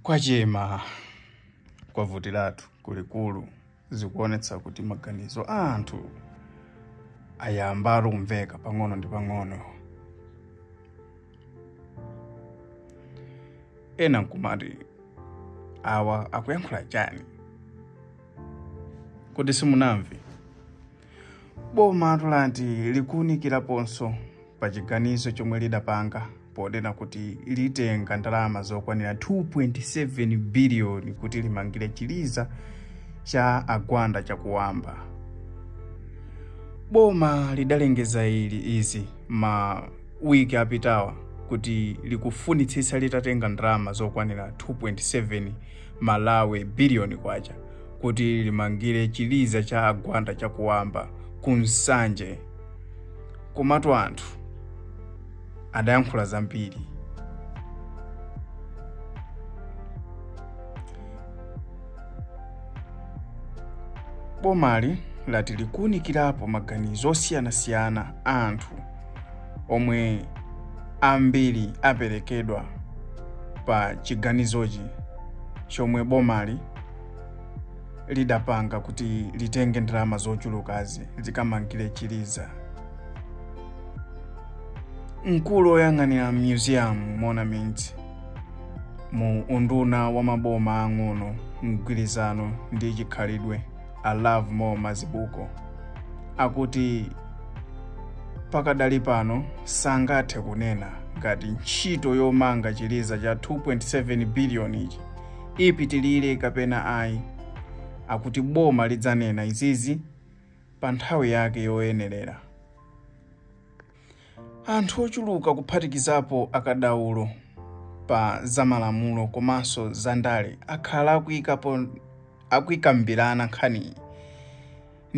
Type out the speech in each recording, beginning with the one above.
Kwachema, kwavutiratu kulikulu. Zikuonetsa kuti maganizo a anthu ayamba kumveka pang'ono ndi pang'ono. Ena nkumati awa akuyankhula chani? Kuti simunamve? bomatu lati likuwunikiraponso pa chiganizo chomwe lidapanga ponena kuti litenga ndalama zokwanira 2.7 biliyoni kuti limangire chiliza cha a Gwanda Chakuamba boma lidalengeza ili izi ma wiki apitawa kuti likufunitsitsa litatenga ndalama zokwanira 2.7 Malawi billion kwacha kuti limangire chiliza cha a Gwanda Chakuamba ku Nsanje. Komatu anthu adayankhula zambiri. Bomali lati likuunikirapo maganizo osiyanasiyana a anthu omwe ambiri aperekedwa pa chiganizochi chomwe bomali lidapanga kuti litenge ndalama zochulukazi likamangire chiliza mkulu oyang'anira museum monuments mu unduna wa maboma ang'ono mgwirizano ndi chikhalidwe a Lovemore Mazibuko akuti pakadali pano sangathe kunena ngati ntchito yomanga chiliza cha 2.7 biliyoni ichi ipitilire kapena ayi akuti boma lidzanena izizi pa nthawi yake yoyenerera Anthu ochuluka kuphatikizapo akadaulo pa zamalamulo komanso zandale akhala akuyikambirana nkhaniyi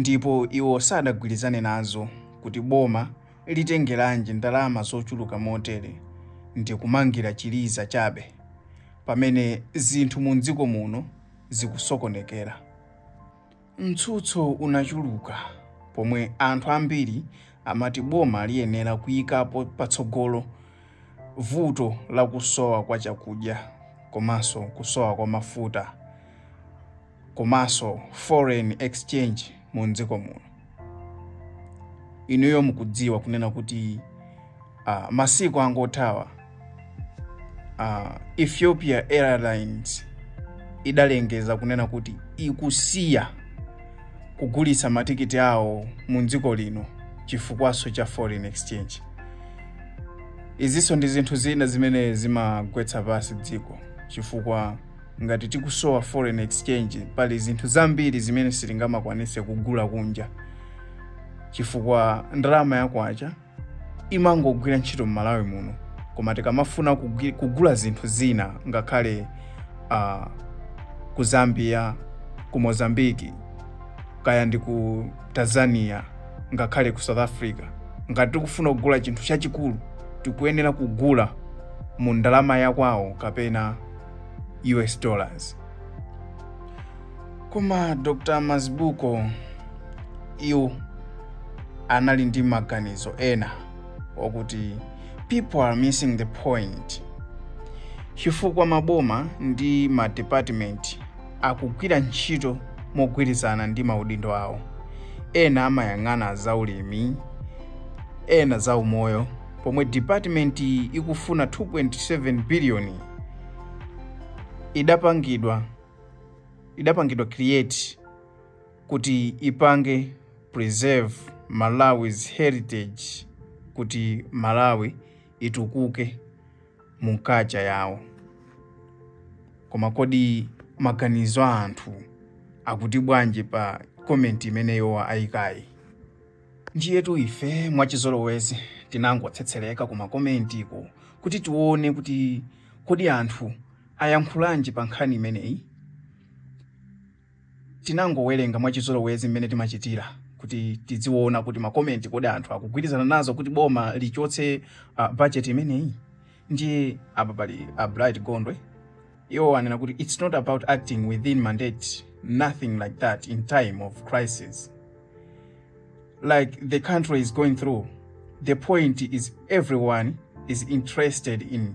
ndipo iwo sadagwirizane nazo kuti boma litengeranji ndalama zochuluka motere ndi kumangira chiliza chabe pamene zinthu mu dziko muno zikusokonekera. Mtsutso unachuluka pomwe anthu ambiri amati boma liyenera kuyikapo patsogolo vuto la kusowa kwa chakudya komanso kusowa kwa mafuta komanso foreign exchange mu dziko muno. Inuyo mukudziwa kunena kuti uh, masiku angothawa uh, ethiopia airlines idalengeza kunena kuti ikusiya kugulitsa matikiti awo mu dziko lino chifukwaso cha foreign exchange izinso ndi zinthu zina zimene zimagwetsa pansi dziko chifukwa ngati tikusowa foreign exchange pali zinthu zambiri zimene sitingamakwanise kugula kunja chifukwa ndalama yakwacha imangogwira ntchito m'malawi muno koma tikamafuna kugwi- kugula zinthu zina ngakhale uh, ku zambia ku mozambiki kaya ndi ku tanzania ngakhale ku south africa ngati tikufuna kugula chinthu chachikulu tikuyenera kugula mu ndalama yakwawo kapena us dollars koma dr mazibuko iwo anali ndi maganizo ena okuti people are missing the point chifukwa maboma ndi madepartment akugwira ntchito mogwirizana ndi maudindo awo ena amayang'ana za ulimi ena za umoyo pomwe department ikufuna 2.7 biliyoni idapangidwa idapangidwa create kuti ipange preserve malawi's heritage kuti malawi itukuke mu kacha yawo koma kodi maganizo a anthu akuti bwanji pa komenti imeneyo ayikayi ndiyetu ife mwachizolowezi tinangotsetsereka kumakomentiko kuti tione kuti kodi anthu ayankhulanji pa nkhani imeneyi? Tinangowerenga mwachizolowezi mmene timachitira kuti tidziona kuti makomenti kodi anthu akugwirizana nazo kuti boma lichotse uh, budget imeneyi. Ndiye apa pali a Bright Gondwe iwo anena kuti it's not about acting within mandate nothing like that in time of crisis like the country is going through the point is everyone is interested in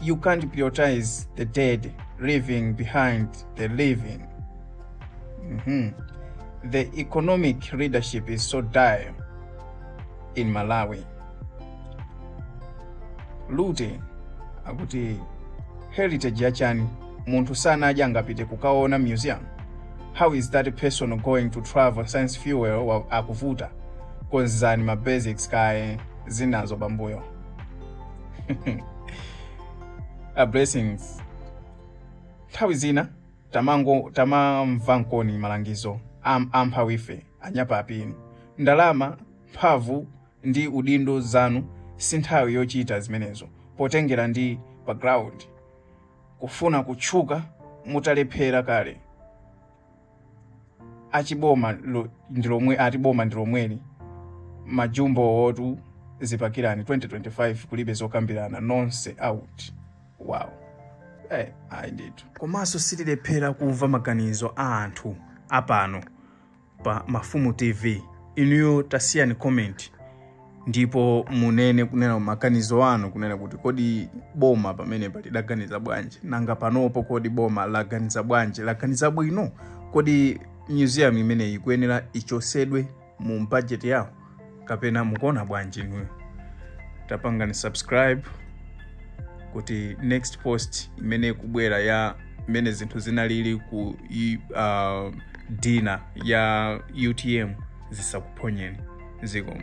You can't prioritize the dead, leaving behind the living. hmm The economic leadership is so dire in Malawi. Lute akuti heritage yachani munthu sanadya angapite kukaona museum how is that person going to travel science fuel wa- akuvuta konzani ma basics kaye zinazo pambuyo a blessings nthawi zina tamango tamamva nkoni malangizo am, amphawife anyapapi ndalama mphamvu ndi udindo zanu si nthawi yochita zimenezo potengera ndi background kufuna kutchuka mutalephera kale ati boma ndi lomweli majumbo otu zipakirani 2025 kulibe zokambirana nonse out wow ayi komanso sitilephera kumva maganizo a anthu apano pa mafumu tv inuyo tasiyani comment ndipo munene kunena maganizo anu kunena kuti kodi boma pamenepa lidaganiza bwanji nanga panopo kodi boma laganiza bwanji laganiza bwino kodi museum imeneyi ikuyenera ichosedwe mu budget yawo kapena mukuona bwanji inuyo tapangani subscribe kuti next post imene ikubwera ya imene zinthu zinalili ku dinner ya utm zisakuphonyeni zikomo